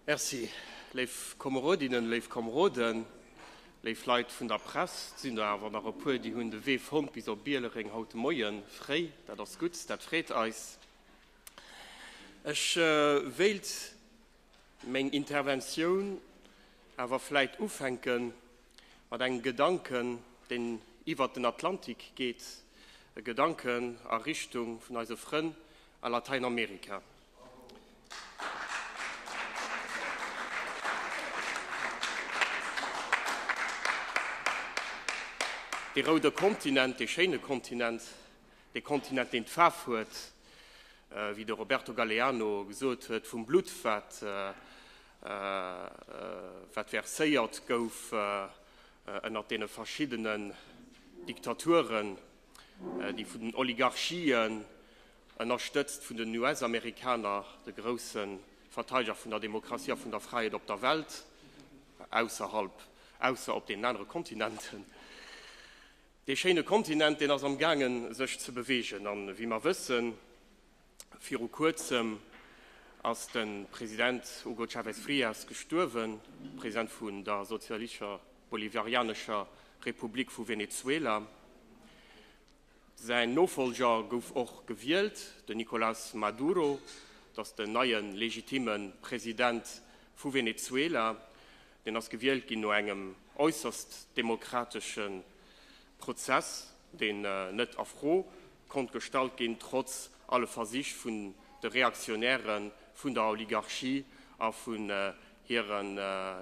Merci. Léif Komerodinnen, léif Komeroden, léif Leit vun der Press, et sinn der awer nach e puer, déi hunn de Wee fonnt bis op Bielereng haut de Moie fréi. Dat ass gutt, dat freet eis. Ech wéilt meng Interventioun awer vläit ufänke mat engem Gedanken, deen iwwert den Atlantik geet, e Gedanken a Richtung vun eise Frënn a Lateinamerika. De roude Kontinent, de schéine Kontinent, de Kontinent, deen d'Faarf huet, äh, wéi de Roberto Galeano gesot huet, vum Blutt, wat, äh, äh, wat verséiert gouf äh, ënnert deene verschiddenen Diktaturen, äh, déi vun den Oligarchien Ënnerstëtzt vun den US-Amerikaner, de grousse Verteideger vun der Demokratie a vun der Fräiheet op der Welt, ausserhalb, ausser op deenen anere Kontinenten. Dee schéine Kontinent, deen ass am gaangen, sech ze beweegen. A wéi mer wëssen, viru Kuerzem ass de President Hugo Chávez Frías gestuerwen, President vun der sozialistescher Bolivarianescher Republik vu Venezuela. Säin Nofolger gouf och gewielt, den Nicolás Maduro. Dat ass den neie legitimme President vu Venezuela. Deen ass gewielt ginn no engem äusserst demokratesche Prozess, deen net a Fro konnt gestallt ginn, trotz alle Versich vun de Reaktionäre vun der Oligarchie a vun hire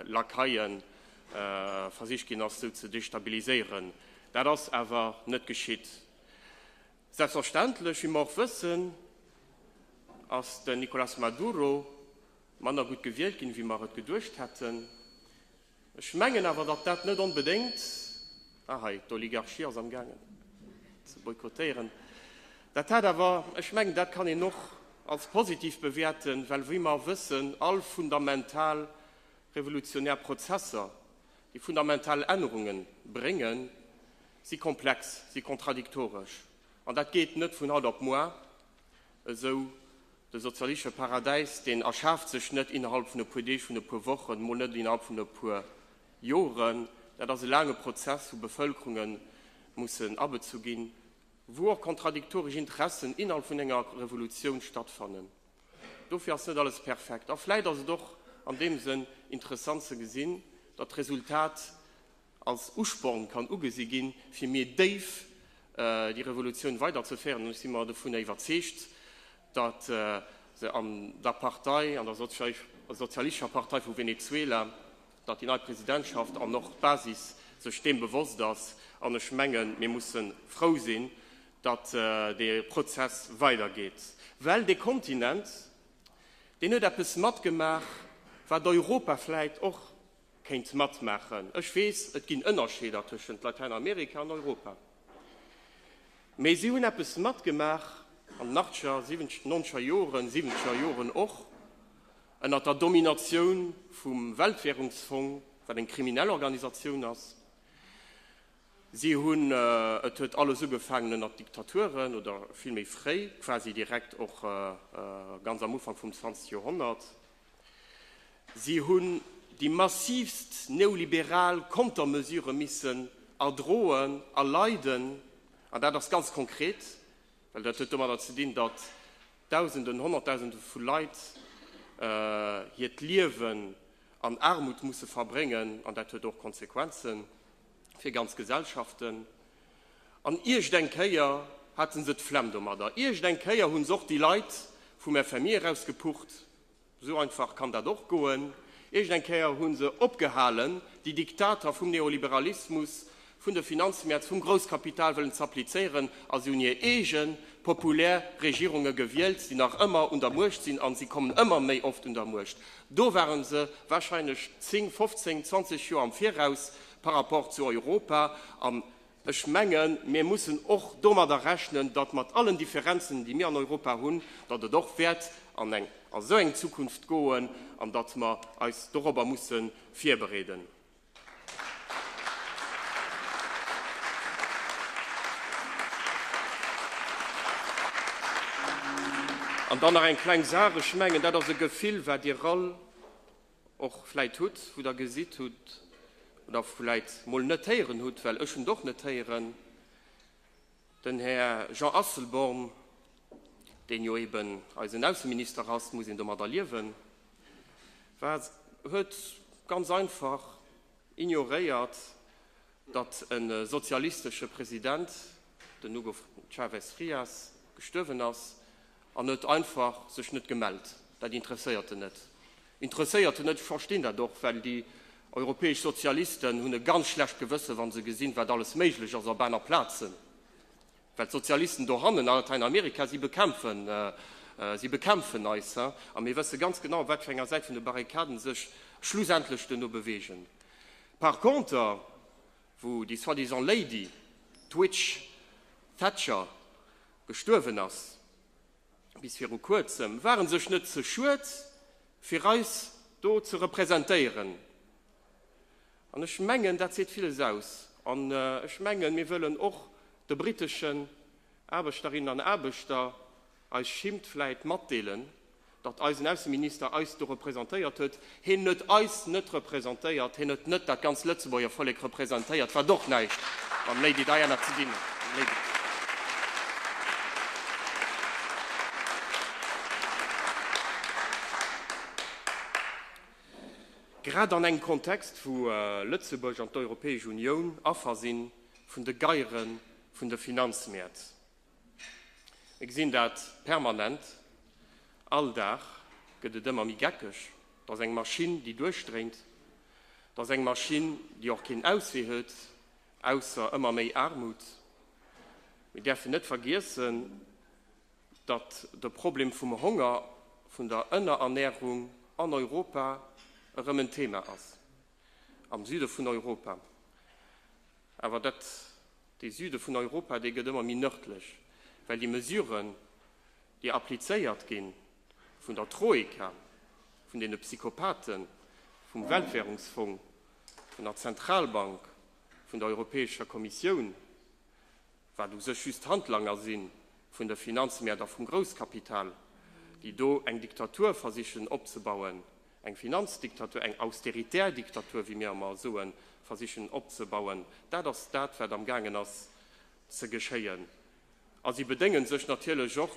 Lakaien versicht ginn ass, sou ze destabiliséieren. Dat ass awer net geschitt. Selbstverständlech, wéi mer och wëssen, ass den Nicolás Maduro manner gutt gewielt ginn, wéi mer et geduecht hätten. Ech mengen awer, datt dat net onbedéngt Ah hei, d'Oligarchie ass am gaangen ze boykottéieren. Dat hat awer, ech mengen, dat kann een och als positiv bewäerten, well wéi mer wëssen, all fundamental revolutionär Prozesser, déi fundamental Ännerungen bréngen, si komplex, si kontradiktoresch. An dat geet net vun haut op muar, Esou de sozialistesche Paradäis, deen erschaaft sech net innerhalb vun e puer Deeg, vun e puer Wochen, mol net innerhalb vun e puer Joren. Dat ass e laange Prozess, wou Bevëlkerunge mussen abezu ginn, wou och kontradiktoresch Interessen innerhalb vun enger Revolutioun stattfannen. Dofir ass net alles perfekt. A vläit ass et och an deem Sënn interessant ze gesinn, datt d'Resultat als Usporn kann ugesi ginn, fir méi déif déi Revolutioun weiderzeféieren. An ech si mer dovun iwwerzeegt, datt se an der Partei, an der Sozialistescher Partei vu Venezuela, datt déi nei Presidentschaft an och d'Basis sech deem bewosst ass. An ech mengen, mir musse frou sinn, datt dee Prozess weidergeet, well dee Kontinent, deen huet eppes matgemaach, wat Europa vläicht och Kéint matmaachen. Ech weess, et ginn Ënnerscheeder tëschent Latäinamerika an Europa. Mee si hunn eppes matgemaach an den Achtscher, Siwenzger, Nonzger Joren, Siwenzger Joren och, ënner der Dominatioun vum Weltwährungsfong, wat eng kriminell Organisatioun ass. Si hunn, et huet alles ugefaangen ënner Diktaturen, oder villméi fréi, quasi direkt och ganz am Ufank vum 20 Joerhonnert, Si hunn déi massivst neoliberal Kontermesure missen erdroen a leiden, an dat ass ganz konkret, well dat huet domadder ze dinn, datt Dausenden, Honnertdausende vu Leit hiert Liewen an Aarmut musse verbréngen, an dat huet och Konsequenze fir ganz Gesellschaften. An iergd eng Kéier hate se d'Flemm domadder. Iergd eng Kéier hu se och déi Leit vum FMI eraus gepucht. Esou einfach kann dat och goen. Iergd eng Kéier hu se opgehalen, déi Diktater vum Neoliberalismus, vun de Finanzmäert, vum Grousskapital wëllen z'applizéieren a se hunn hir eege populär Regierunge gewielt, déi nach ëmmer un der Muecht sinn. A se kommen ëmmer méi oft un der Muecht. Do ware se warscheinlech 10, 15, 20 Joer am Viraus. par rapport zu Europa, an ech mengen, mir mussen och domadder rechnen, datt mat allen Differenzen, déi mir an Europa hunn, datt et och wäert an eng esou eng Zukunft goen an datt mer eis dorobber musse virbereeden. An dann nach eng kleng Saach, ech mengen, dat ass e Gefill, wat Dir all, och vläit hutt, wou der gesitt hutt oder vläit mol net héieren hutt, well ech hunn et och net héieren, den Här Jean Asselborn, deen jo eben eisen Ausseminister ass, muss een domadder liewen, war, huet ganz einfach ignoréiert, datt e sozialistesche President, den Hugo Chávez Frías, gestuerwen ass, En huet einfach sech net gemellt. Dat interesséiert en net. Interesséiert en net, ech verstinn dat och, well déi europäesch Sozialisten hunn e ganz schlecht Gewëssen, wa se gesinn, wat alles méiglech ass op aner Plazen, well d'Sozialisten dohannen a Latäinamerika, si bekämpfen, si bekämpfen eis. A mir wësse ganz genau, op wat fir enger Säit vun de Barrikaden sech schlussendlech den no bewegen. Par contre, wou déi soi-disant Lady, d'Witch Thatcher, gestuerwen ass, bis viru kuerzem, ware sech net ze schued fir eis do ze representéieren. An ech mengen dat seet villes aus. An ech mengen, mir wëllen och de briteschen Aarbechterinnen an Aarbechter eis Schimmt vläit matdeelen, datt eisen Ausseminister eis do representéiert huet. Hien huet eis net representéiert, hien huet net dat ganz Lëtzebuerger Vollek representéiert, wat och näischt mam Lady Diana ze dinn huet. Grad an engem Kontext, wou Lëtzebuerg an d'Europäesch Unioun Affer si vun de Geiere vun de Finanzmäert. Mir gesinn dat permanent, all Dag gëtt et ëmmer méi geckeg. Et ass eng Maschinn, déi duerchdréint. Et ass eng Maschinn, déi och keen Auswee huet, ausser ëmmer méi Aarmut. Mir däerfen net vergiessen, datt de Problem vum Honger, vun der Ënnerernährung an Europa erëm en Thema ass, am Süde vun Europa. Awer dat, dee Süde vun Europa, dee gëtt ëmmer méi nërdlech, well déi Mesuren, déi applizéiert gi vun der Troika, vun deene Psychopaten, vum Weltwährungsfong, vun der Zentralbank, vun der Europäescher Kommissioun, wat u sech just Handlanger si vun de Finanzmäert a vum Grousskapital, déi do eng Diktatur versichen opzebauen, eng Finanzdiktatur, eng austeritär Diktatur, wéi mir ëmmer soen, versichen opzebauen, dat ass dat, wat am gaangen ass ze geschéien. A si bedéngen sech natierlech och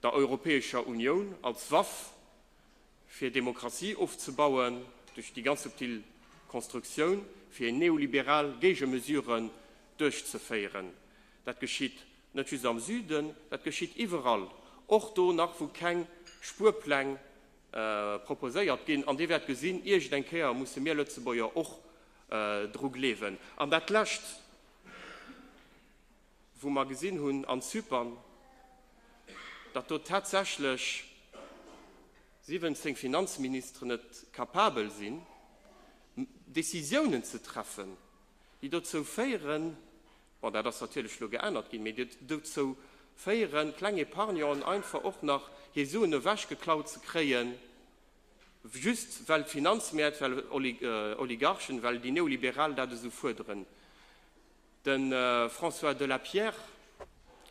der Europäescher Unioun als Waff, fir Demokratie ofzebauen duerch déi ganz subtil Konstruktioun, fir neoliberal Géigemesuren duerchzeféieren. Dat geschitt net just am Süden, dat geschitt iwwerall, och do nach, wou keng Spuerpläng proposéiert ginn. An Dir wäert gesinn, iergend eng Kéier musse mir Lëtzebuerger och dru gleewen. An dat Lescht. wou mer gesinn hunn an Zypern, datt do tatsächlech 17 Finanzministeren net capabel sinn, Décisiounen ze treffen, déi dozou féieren, bon, dat ass natierlech elo geännert ginn, mee déi dozou féieren, kleng Epargnanten einfach och nach hir Suen ewechgeklaut ze kréien, just well d'Finanzmäert, well Oligarchen, well déi Neoliberal dat esou fuerderen. De François de la Pierre,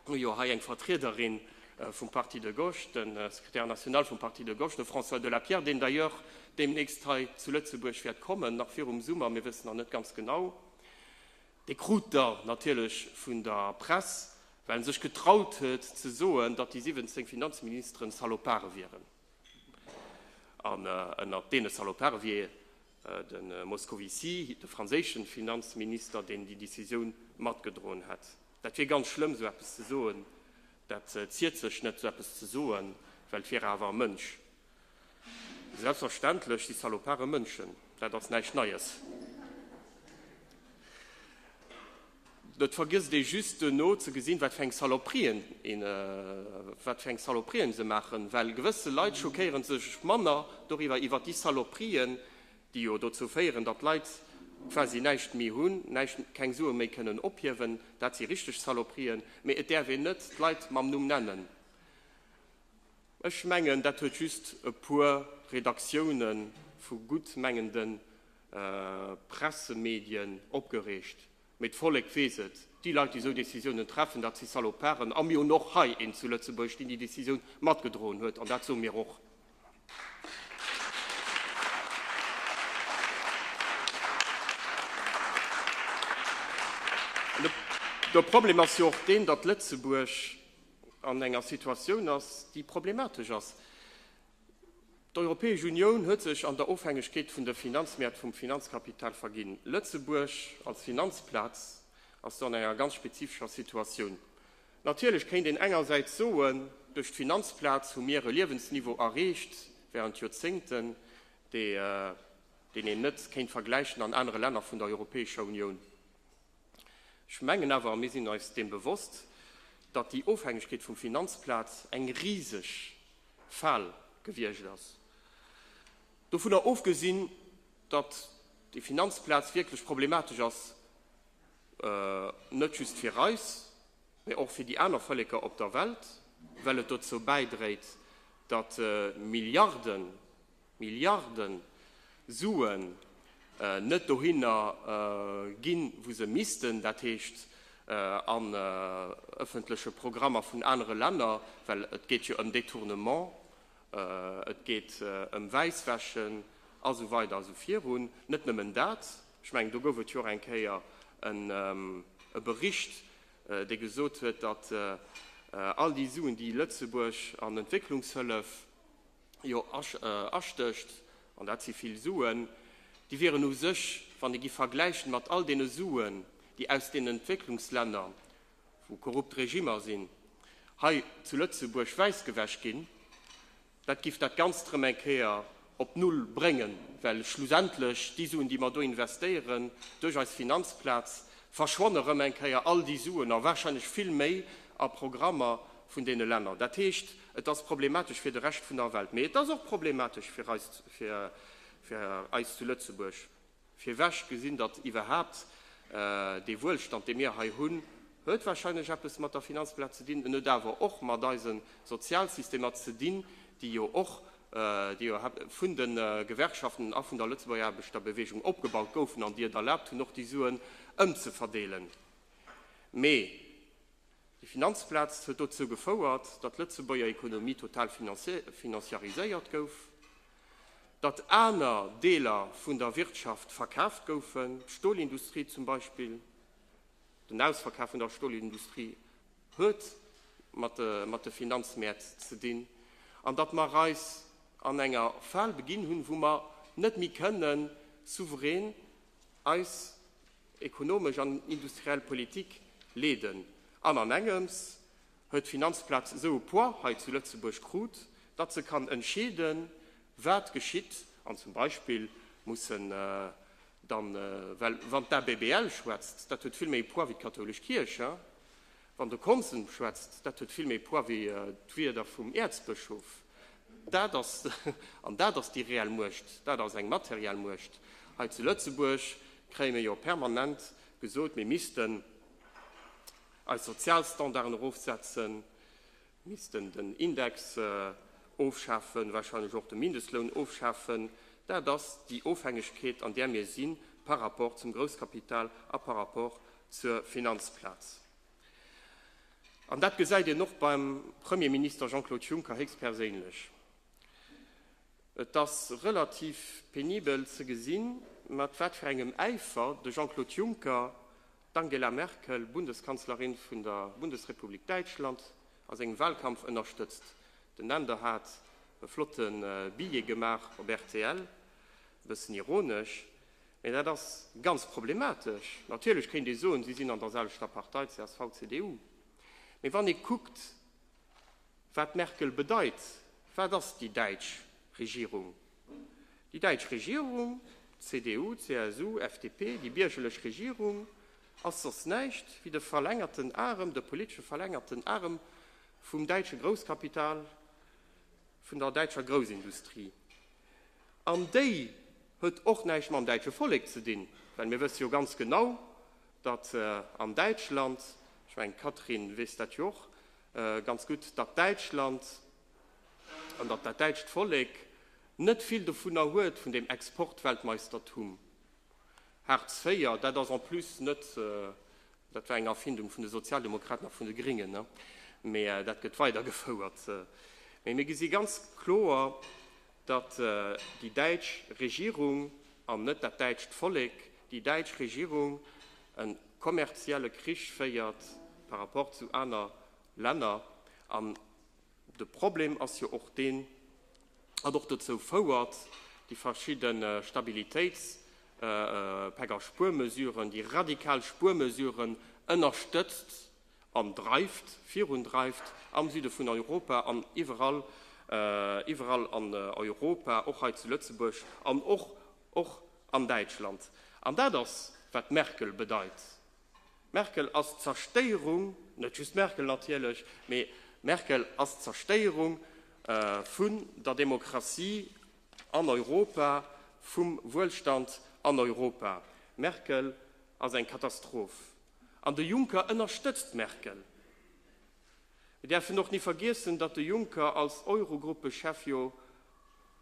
hu jo hei eng Vertriederin vum Parti de gauche, de Secrétaire national vum Parti de gauche, de François de la Pierre, deen d'ailleurs deemnächst hei zu Lëtzebuerg wäert kommen, nach virum Summer, mir wëssen nach net ganz genau. Dee krut da natierlech vun der Press, well e sech getraut huet ze soen, datt déi 17 Finanzministeren Salopare wieren. An ënnert deene Salopare wier De Moscovici, de franséische Finanzminister, deen déi Decisioun matgedroen hätt. Dat wier ganz schlëmm, esou eppes ze soen. Dat ziert sech net, esou eppes ze soen, well et wier awer e Mënsch. Selbstverständlech si Salopare Mënschen, dat ass näischt Neies. Et vergësst ee just duerno ze gesinn, wat fir eng Saloperien een, wat fir eng Saloperien se maachen, well gewësse Leit schockéieren sech manner doriwwer, iwwer déi Saloperien, déi jo dozou féieren, datt Leit quasi näischt méi hunn, näischt, keng Sue méi kënnen ophiewen, dat si richteg Saloperien, mee et däerf een net d'Leit mam Numm nennen. Ech mengen, dat huet just e puer Redaktioune vu guttmengende Pressemedien opgereegt, mee d'Vollek weess et, déi Leit déi esou Décisiounen treffen, dat si Saloparen. A mir hunn och hei een zu Lëtzebuerg, deen déi Décisioun matgedroen huet, an dat soe mir och. De Problem ass jo och deen, datt Lëtzebuerg an enger Situatioun ass, déi problematesch ass. D'Europäesch Unioun huet sech an der Ofhängegkeet vun de Finanzmäert vum Finanzkapital verginn. Lëtzebuerg als Finanzplaz ass do an enger ganz spezifescher Situatioun. Natierlech kéint een engersäits soen, duerch d'Finanzplaz hu mir e Liewensniveau erreecht während Joerzéngten, deen een net kéint vergläichen an anere Länner vun der Europäescher Unioun. Ech mengen awer, mir sinn eis deem bewosst, datt déi Ofhängegkeet vum Finanzplaz eng riseg Fal gewiescht ass. Dovunner ofgesinn, datt déi Finanzplaz wierklech problematesch ass, net just fir eis, mä och fir déi aner Vëlleker op der Welt, well et dozou bäidréit, datt Milliarden Milliarden Suen net dohinner ginn, wou se missten, dat heescht an ëffentleche Programmer vun anere Länner, well et geet jo ëm Détournement, et geet ëm Wäisswäschen a sou weider a sou virun. Net nëmmen dat, ech mengen, do gouf et jo och eng Kéier e Bericht, dee gesot huet, datt all déi Suen, déi Lëtzebuerg an Entwécklungshëllef jo astécht, an dat si vill Suen, déi wieren u sech, wann ee gi vergläichen mat all deene Suen, déi aus deenen Entwécklungslänner, wou korrupt Regimmer sinn, hei zu Lëtzebuerg wäissgewäsch ginn, dat giff dat Ganzt erëm eng Kéier op Null bréngen, well schlussendlech déi Suen, déi mer do investéieren duerch eis Finanzplaz, verschwanne erëm eng Kéier, all déi Suen a warscheinlech vill méi, a Programmer, vun deene Länner. Dat heescht, et ass problematesch fir de Rescht vun der Welt. Mee et ass och problematesch fir eis, fir eis zu Lëtzebuerg. Fir wech gesinn, datt iwwerhaapt dee Wuelstand, dee mir hei hunn, huet warscheinlech eppes mat der Finanzplaz ze dinn. En huet awer och mat eise Sozialsystemer ze dinn, déi jo och, déi jo vun de Gewerkschaften a vun der Lëtzebuerger Aarbechterbewegung opgebaut goufen an déi et erlaabt hunn, och déi Suen ëmzeverdeelen. Mee. Déi Finanzplaz huet dozou gefouert, datt d'Lëtzebuerger Ekonomie total financiariséiert gouf, datt aner Deeler vun der Wirtschaft verkaaft goufen, d'Stolindustrie zum Beispill. Den Ausverkaf vun der Stolindustrie huet mat de Finanzmäert ze dinn. An datt mer eis an enger Fal beginn hunn, wou mer net méi kënnen souverän eis ekonomesch an industriell Politik leeden. An an engems huet d'Finanzplaz esou e Poids hei zu Lëtzebuerg krut, datt se kann entscheeden, wat geschitt. An zum Beispill mussen dann, well wann d'ABBL schwätzt, dat huet vill méi e Poids wéi d'kathoulesch Kierch, Wann de Konsens schwätzt, dat huet vill méi Poids wéi d'Wierder vum Äerzbëschof. Dat ass, an dat ass déi reell Muecht, dat ass eng materiell Muecht. Hei zu Lëtzebuerg kréie mir jo permanent gesot, mir missten eis Sozialstandarden erofsetzen, missten den Index ofschafen, wahrscheinlech och de Mindestloun ofschafen, dat ass déi Ofhängegkeet, an där mir si par rapport zum Grousskapital a par rapport zur Finanzplaz. An dat gesäit een och beim Premierminister Jean-Claude Juncker héchstperséinlech. Et ass relativ penibel ze gesinn, mat wat fir engem Äifer de Jean-Claude Juncker D'Angela Merkel, Bundeskanzlerin vun der Bundesrepublik Däitschland, a sengem Wahlkampf ënnerstëtzt den Änder, hat e flotte Billet gemaach op rtl. E bëssen ironesch, mee dat ass ganz problematesch. Natierlech kéint ee soen, si sinn an der selwechter Partei, csv, cdu. Mee wann ee kuckt, wat d'Merkel bedeit, wat ass déi däitsch Regierung? Déi däitsch Regierung, CDU, CSU, FDP, déi biergerlech Regierung, ass soss näischt wéi de verlängerten Arem, de politesche verlängerten Arem vum däitsche Grousskapital, vun der däitscher Groussindustrie. An déi huet och näischt mam däitsche Vollek ze dinn, well mir wësse jo ganz genau, datt an Däitschland, ech mengen d'Catherine weess dat jo och ganz gutt, datt Däitschland an datt dat däitscht Vollek net vill dovunner huet, vun deem Exportweltmeistertum. Hartz IV, dat ass en plus net, dat war eng Erfindung vun de Sozialdemokraten a vun de Gringen, mee dat gëtt weidergefouert. Mee mir gesi ganz kloer, datt déi däitsch Regierung, an net dat däitscht Vollek, déi däitsch Regierung e kommerzielle Krich féiert par rapport zu aner Länner, an De Problem ass jo och deen, wat och dozou fouert, déi verschidde Stabilitéitspak a Spuermesuren, déi radikal Spuermesuren ënnerstëtzt an dreift, virundreift am Süde vun Europa an iwwerall, iwwerall an Europa, och hei zu Lëtzebuerg an och, och an Däitschland. An dat ass, wat d'Merkel bedeit, Merkel ass d'Zerstéierung, net just Merkel natierlech, mee Merkel ass d'Zerstéierung vun der Demokratie an Europa, vum Wuelstand an Europa. Merkel ass eng Katastroph. An de Juncker ënnerstëtzt Merkel. Mir däerfen och ni vergiessen, datt de Juncker als Eurogruppechef jo,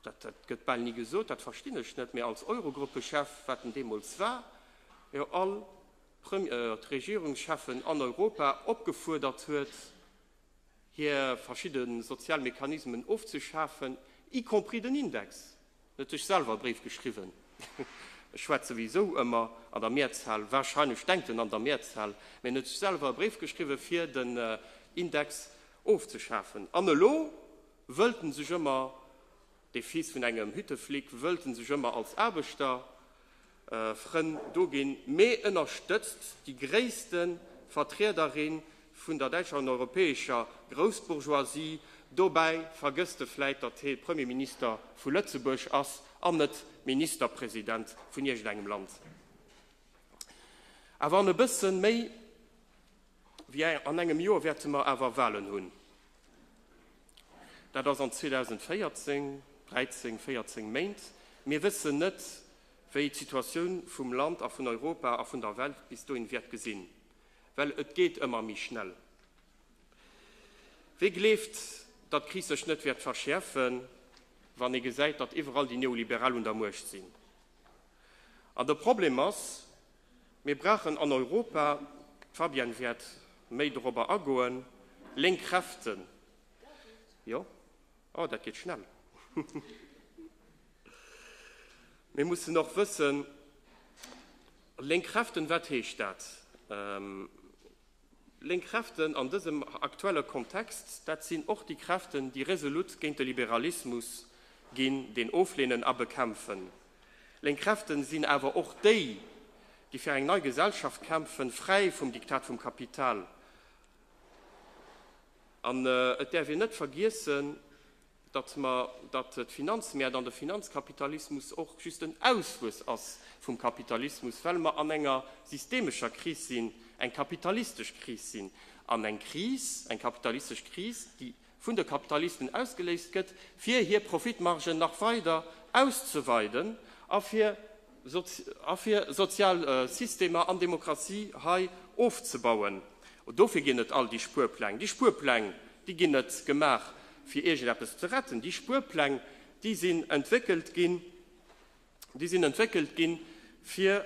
dat, dat gëtt bal ni gesot, dat verstinn ech net, mä als Eurogruppechef, wat en deemools war, jo all Prem, äh, d'Regierungschefen an Europa opgefuerdert huet, hir verschidde sozial Mechanismen ofzeschafen, y compris den Index. Net ech selwer e Bréif geschriwwen, ech schwätz souwisou ëmmer an der Mehrzahl, wahrscheinlech denkt en an der Mehrzahl, mä net ech selwer e Bréif geschriwwen, fir den Index ofzeschafen. An elo wëllt en sech ëmmer, dee Fils vun engem Hütteflic, wëllt en sech ëmmer als Aarbechter Frënn do ginn, mee ënnerstëtzt déi gréisste Vertriederin vun der däitscher an europäescher Groussbourgeoisie. Dobäi vergësst e vläit, datt hee Premierminister vu Lëtzebuerg ass an net Ministerpresident vun iergendengem Land. Awer an e bësse méi wéi an engem Joer wäerte mer awer Walen hunn. Dat ass an 2014, 13, 14 Méint. Mir wëssen net, wéi d'Situatioun vum Land a vun Europa a vun der Welt bis dohin wäert gesinn, well et geet ëmmer méi schnell. Wee gleeft, datt d'Kris sech net wäert verschäerfen, wann ee gesäit, datt iwwerall déi Neoliberal un der Muecht sinn? An de Problem ass, mir brauchen an Europa, d'Fabienne wäert méi dorobber agoen, lénk Kräften, jo, Oh, dat geet schnell! Mir mussen och wëssen, lénk Kräften, wat heescht dat? Lénk Kräften an dësem aktuelle Kontext, dat sinn och déi Kräften, déi resolut géint de Liberalismus ginn, deen ofleenen a bekämpfen. Lénk Kräften sinn awer och déi, déi fir eng nei Gesellschaft kämpfen, fräi vum Diktat vum Kapital. An et däerf een net vergiessen, datt mer, datt d'Finanzmäert an de Finanzkapitalismus och just en Ausfluss ass vum Kapitalismus, well mer an enger systemescher Kris sinn, eng kapitalistesch Kris sinn, an eng Kris, eng kapitalistesch Kris, déi vun de Kapitalisten ausgeléist gëtt, fir hir Profitmargen nach weider auszeweiden a fir, a fir sozial Systemer an Demokratie hei ofzebauen. Dofir ginn et all déi Spuerpläng. Déi Spuerpläng, déi ginn net gemaach, fir iergendeppes ze retten. Déi Spuerpläng, déi sinn entwéckelt ginn, déi sinn entwéckelt ginn, fir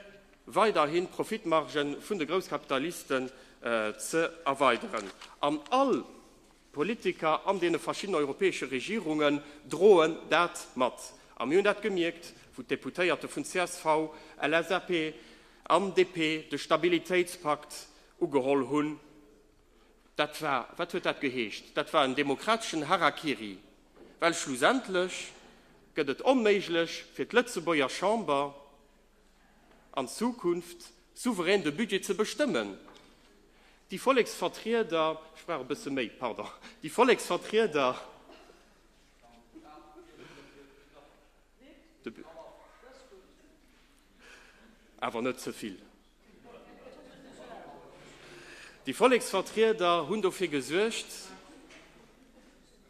weiderhin d'Profitmargen vun de Grousskapitalisten ze erweideren. An all. D'Politiker an deene verschiddenen europäesche Regierungen droen dat mat. A mir hunn dat gemierkt, wou d'Deputéierte vun csv, LSAP an DP de Stabilitéitspakt ugeholl hunn. Dat war, wat huet dat geheescht, dat war en demokrateschen Harakiri, well schlussendlech gëtt et onméiglech fir d'Lëtzebuerger Chamber, an Zukunft souverän de Budget ze bestëmmen. Déi Volleksvertrieder, ech brauch e bësse méi, pardon, déi Volleksvertrieder, de, awer net ze vill, déi Volleksvertrieder hunn dofir gesuergt,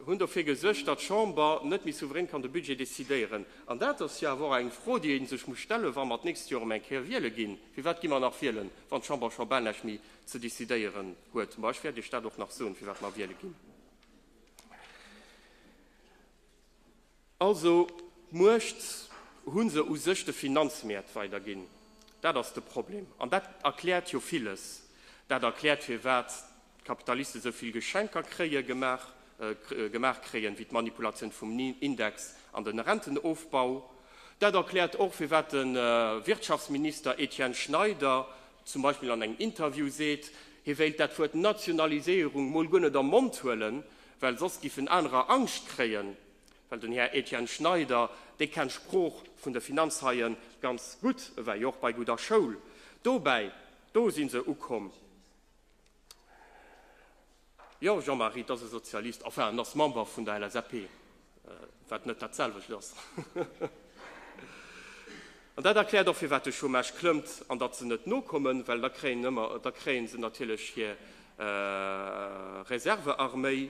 hunn dofir gesuergt, datt d'Chamber net méi souverän kann de Budget decidéieren. An dat ass jo awer och eng Fro, déi ee sech muss stellen, wa mer d'nächst Joer erëm eng Kéier wiele ginn, firwat gi mer nach wielen, wann d'Chamber scho bal näischt méi ze decidéieren huet? Ma ech wäert Iech dat och nach soen, firwat mer wiele ginn. Also d'Muecht hu se u sech de Finanzmäert weiderginn. Dat ass de Problem. An dat erkläert jo villes. Dat erkläert firwat d'Kapitaliste sou vill Geschenker kréie gemaach gemaach kréien, wéi d'Manipulatioun vum Index an de Rentenofbau. Dat erkläert och firwat de Wirtschaftsminister Etienne Schneider zum Beispill an engem Interview seet, hie wéilt dat Wuert Nationaliséierung mol guer net am Mond huelen, Well soss géifen anerer Angscht kréien, well den Här Etienne Schneider, dee kennt d'Sprooch vun de Finanzhaien ganz gutt, e war jo och bei gudder Schoul. Dobäi, do si se ukomm. Jo, Jean-Marie, 't ass e Sozialist, enfin, en ass Member vun der LSAP. wat net datselwecht ass. An dat erkläert och, firwat de Chômage klëmmt an datt se net nokommen, well da kréien ëmmer, da kréie se natierlech hir Reservearméi.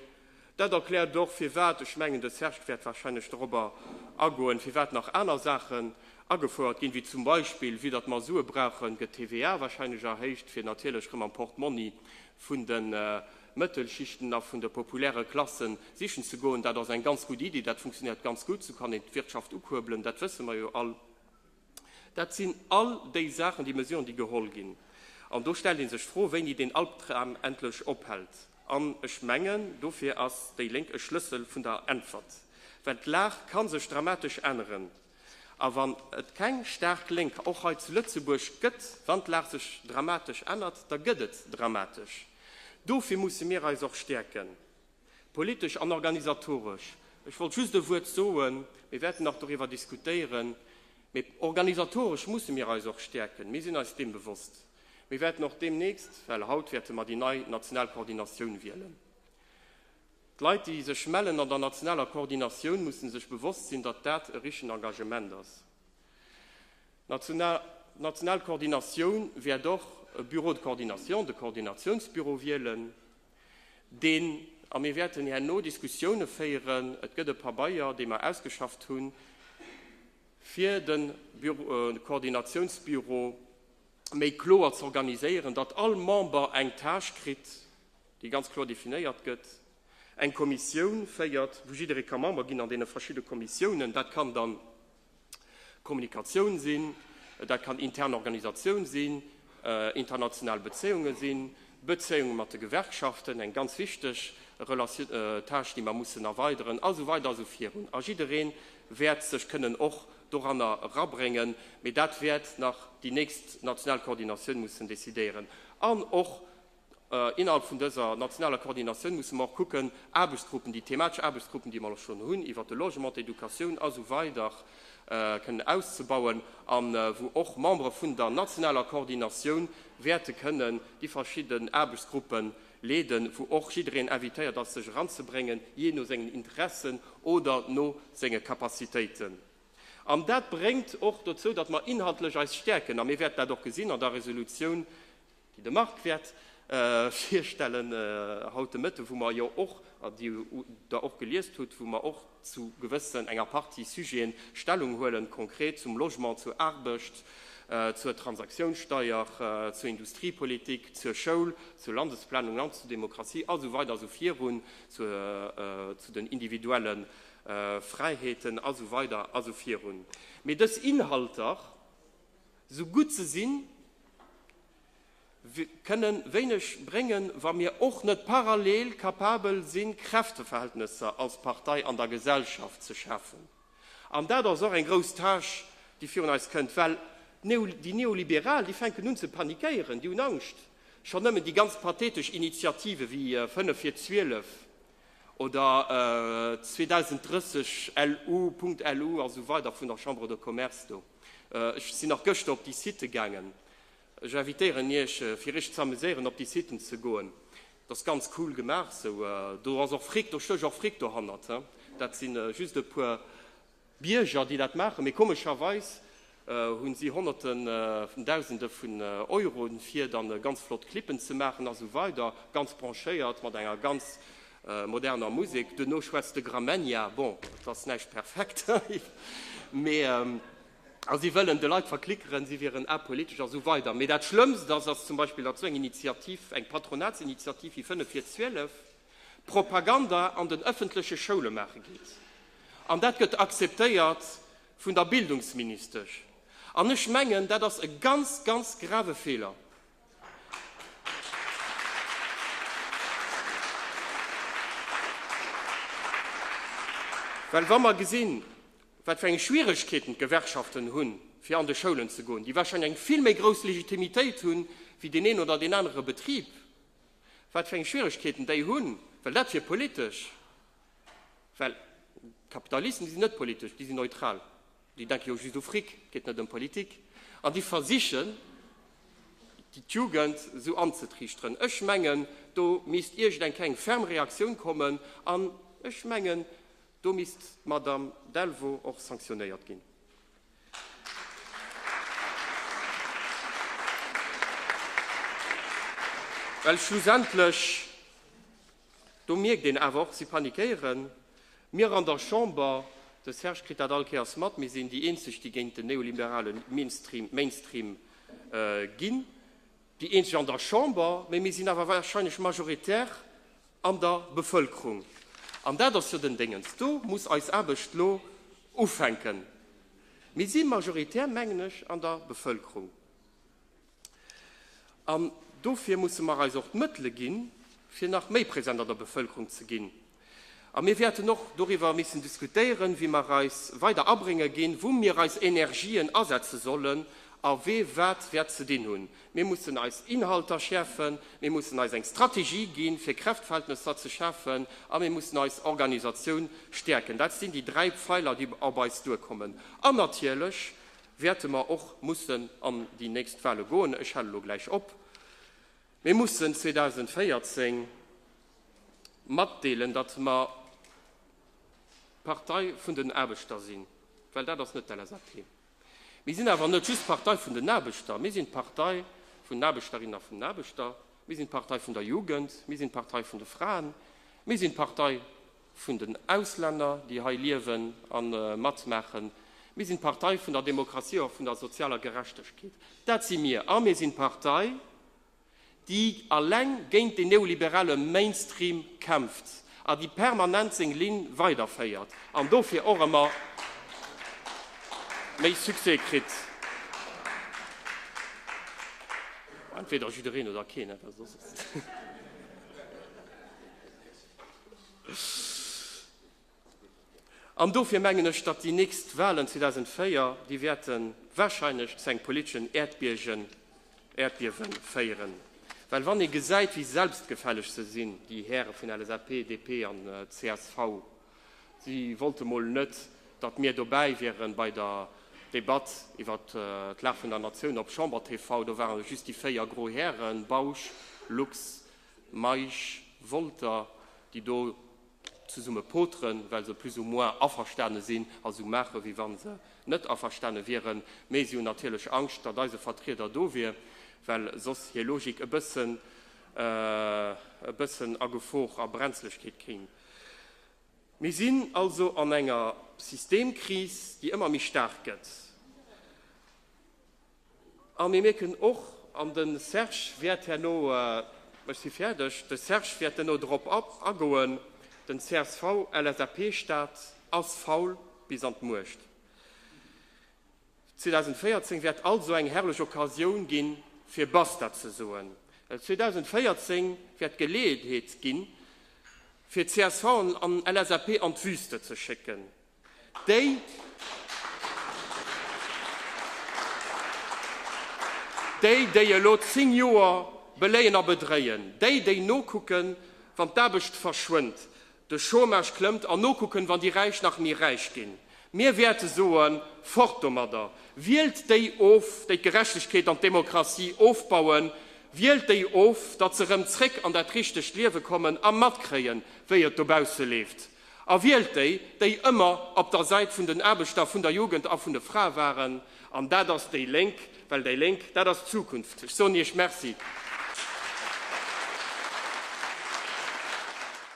Dat erkläert och, firwat, ech mengen, de Serge wäert warscheinlech dorobber agoen, firwat nach aner Saachen agefouert ginn, wéi zum Beispill, vue datt mer Sue brauchen, gëtt d'TVA warscheinlech erhéicht, fir natierlech erëm am Portmonni vun de Mëttelschichten a vun de populäre Klasse sichen ze goen, dat ass eng ganz gutt Iddi, dat funktionéiert ganz gutt, esou kann een d'Wirtschaft ukuerbelen, dat wësse mer jo all. Dat sinn all déi Saachen, déi Mesuren, déi geholl ginn. An do stellt ee sech d'Fro, wéini deen Albdram endlech ophält. An ech mengen, dofir ass déi Lénk e Schlëssel vun der Äntwert, well d'Lag ka sech dramatesch änneren. A wann et keng staark Lénk och hei zu Lëtzebuerg gëtt, wann d'Lag sech dramatesch ännert, da gëtt et dramatesch. Dofir musse mir eis och stäerken, politesch an organisatoresch. Ech wollt just e Wuert soen, mir wäerten nach doriwwer diskutéieren, mee organisatoresch musse mir eis och stäerken, mir sinn eis deem bewosst. Mir wäerten och deemnächst, well haut wäerte mer déi nei national Koordinatioun wielen. D'Leit, déi sech mellen an der nationaler Koordinatioun, mussen sech bewosst sinn, datt dat e richtegen Engagement ass. D'national Koordinatioun wäert och e Bureau de coordination, de Koordinatiounsbüro wielen, deen, a mir wäerten herno Diskussiounen féieren, et gëtt e Pabeier, dee mer ausgeschafft hunn, fir de Koordinatiounsbüro méi kloer z'organiséieren, datt all Member eng Tâche kritt, déi ganz kloer definéiert gëtt, eng Kommissioun féiert, wou jidderee ka Member ginn an deene verschidde Kommissiounen. Dat kann dann Kommunikatioun sinn, dat kann intern Organisatioun sinn, international Bezéiunge sinn, Bezéiunge mat de Gewerkschaften, eng ganz wichteg Relatioun, Tâche, déi mer mussen erweideren, a sou weider a sou virun. A jidderee wäert sech kënnen och doranner erabréngen, mee dat wäert nach déi nächst national Koordinatioun mussen decidéieren an och Innerhalb vun dëser nationaler Koordinatioun musse mer och kucken, Aarbechtsgruppen, déi thematesch Aarbechtsgruppen, déi mer elo schonn hunn, iwwert de Logement, d'Educatioun a sou weider kënnen auszebauen a wou och Membere vun der nationaler Koordinatioun wäerte kënnen déi verschidde Aarbechtsgruppe leeden, wou och jiddereen invitéiert ass, sech eranzebréngen, jee no sengen Interessen oder no senge Capacitéiten. An dat bréngt och dozou, datt mer inhaltlech eis stäerken a mir wäerten dat och gesinn an der Resolutioun, De Marc wäert virstellen haut de Mëtte, wou mer jo och, an déi Der och geliest hutt, wou mer och zu gewëssen, enger Partie Sujete Stellung huelen, konkret zum Logement, zur Aarbecht, zur Transaktiounssteuer, zur Industriepolitik, zur Schoul, zur Landesplanung, Land zur Demokratie a sou weider a sou virun, zu den individuelle Fräiheeten a sou weider a sou virun. Mee dës Inhalter. Sou gutt se sinn, kënnen wéineg bréngen, wa mir och net parallel kapabel sinn, Kräfteverhältnesser als Partei an der Gesellschaft ze schafen. An dat ass och eng grouss Tâche, déi virun eis kënnt, well déi Neoliberal, déi fänken un ze panikéieren, déi hunn Angscht. Schonn nëmmen déi ganz pathetesch Initiative wéi 5 vir 12, oder 2030 LU, Punkt LU a sou weider vun der Chambre de Commerce do. Ech sinn nach gëschter op déi Sitë gaangen. Ech invitéieren Iech, fir Iech z'amuséieren op déi Sitten ze goen. Et ass ganz cool gemaach esou. Do ass och Fric, do stéch och Fric dohannert. Dat si just e puer. Bierger, déi dat maachen, mee komescherweis hu si honnerte vun dausende vun Euroen, fir dann ganz flott Clippen ze maachen a sou weider, ganz branchéiert, mat enger ganz moderner Musek. Duerno schwätzt de Gramegna, bon, et ass näischt perfekt, mee, a si wëllen de Leit verklickeren, si wieren apolitesch a sou weider. Mee dat Schlëmmst ass, ass zum Beispill, datt sou eng Initiativ, eng Patronatsinitiativ wéi 5 vir 12, Propaganda an den ëffentleche Schoule maache geet. An dat gëtt akzeptéiert vun der Bildungsministesch. An ech mengen, dat ass e ganz, ganz grave Feeler. Well wa mer gesinn, wat fir eng Schwieregkeeten d'Gewerkschaften hunn, fir an de Schoulen ze goen, déi warscheinlech eng vill méi grouss Legitimitéit hunn, wéi deen een oder deen anere Betrib, wat fir eng Schwieregkeeten déi hunn, well dat wier politesch, well d'Kapitalisten, déi sinn net politesch, déi sinn neutral, déi denke jo just u Fric, et geet net ëm Politik, an déi versichen, d'Jugend esou anzetriichteren. Ech mengen, do misst iergendeng keng ferm Reaktioun kommen, an ech mengen, do misst d'Madame Delvaux och sanktionéiert ginn. Well schlussendlech, do mierkt een awer och, si panikéiere mir an der Chamber, de Serge kritt dat all Kéiers mat, mir sinn déi eenzeg, déi géint den neoliberale Mainstream ginn. Déi eenzeg an der Chamber, mä mir sinn awer wahrscheinlech majoritär an der Bevölkerung. An dat ass jo den Déngens. Do muss eis Aarbecht elo ufänken. Mir si majoritär, mengen ech, an der Bevölkerung. An dofir musse mer eis och d'Mëttele ginn, fir nach méi präsent an der Bevölkerung ze ginn. A mir wäerten och doriwwer missen diskutéieren, wéi mer eis weider abrénge ginn, wou mir eis Energien asetze sollen a wee wat wäert ze dinn hunn. Mir mussen eis Inhalter schäerfen, mir mussen eis eng Strategie ginn, fir Kräftverhältnesser ze schafen, a mir mussen eis Organisatioun stäerken. Dat sinn déi dräi Pfeiler, déi op eis duerkommen. An natierlech wäerte mer och mussen an déi nächst Wale goen. Ech hale lo gläich op. Mir mussen 2014 matdeelen, datt mer d'Partei vun den Aarbechter sinn, well dat ass net d'LSAP. Mir sinn awer net just d'Partei vun den Aarbechter, mir sinn d'Partei vun den Aarbechterinnen a vun den Aarbechter, mir sinn d'Partei vun der Jugend, mir sinn d'Partei vun de Fraen, mir sinn d'Partei. vun den Auslänner, déi hei liewen a matmaachen. Mir sinn d'Partei vun der Demokratie a vun der sozialer Gerechtegkeet. Dat si mir. A mir sinn d'Partei, déi eleng géint deen neoliberale Mainstream kämpft a déi permanent seng Linn weiderféiert an dofir och ëmmer méi Succès kritt. Entweder jiddereen oder keen. An dofir mengen ech, datt déi nächst Walen 2004, déi wäerte warscheinlech zu engem politeschen Äerdbiewen féieren. Well wann ee gesäit, wéi selbstgefälleg se sinn, déi Häre vun LSAP, DP an csv, si wollte mol net, datt mir dobäi wieren bei der Debatt iwwer d'Lag vun der Natioun op Chamber TV. Do ware just déi véier gro Hären, Bausch, Lux, Meisch, Wolter, déi do zesumme poteren, well se plus ou moins averstane sinn a sou maachen, wéi wa se net averstane wieren. Mee si hunn natierlech Angscht, datt eise Vertrieder do wier, well soss hir Logik e bëssen, e bëssen a Gefor, a Brenzlegkeet kéim. Mir sinn also an enger Systemkris, déi ëmmer méi staark gëtt. A mir mierken och, an de Serge wäert herno, ech si fäerdeg, de Serge wäert herno drop agoen, den CSV-LSAP-Staat ass faul bis an d'Muecht. 2014 wäert also eng herrlech Occasioun gi fir Basta ze soen, well 2014 wäert d'Geleeënheet gi fir csv an LSAP an d'Wüste ze schécken. Déi, déi elo zéng Joer beléien a bedréien, déi, déi nokucken, wann d'Aarbecht verschwënnt, de Chômage klëmmt, an nokucken, wann déi Räich nach méi räich ginn, mir wäerte soen, Fort domadder! Wielt déi of, déi d'Gerechtegkeet an d'Demokratie ofbauen, wielt déi of, datt se erëm zréck an dat richtegt Liewe kommen a matkréien, wéi et dobausse leeft! A wielt déi, déi ëmmer op der Säit vun den Aarbechter, vun der Jugend a vun de Frae waren. An dat ass déi Lénk, well déi Lénk, dat ass d'Zukunft. Ech soen Iech Merci.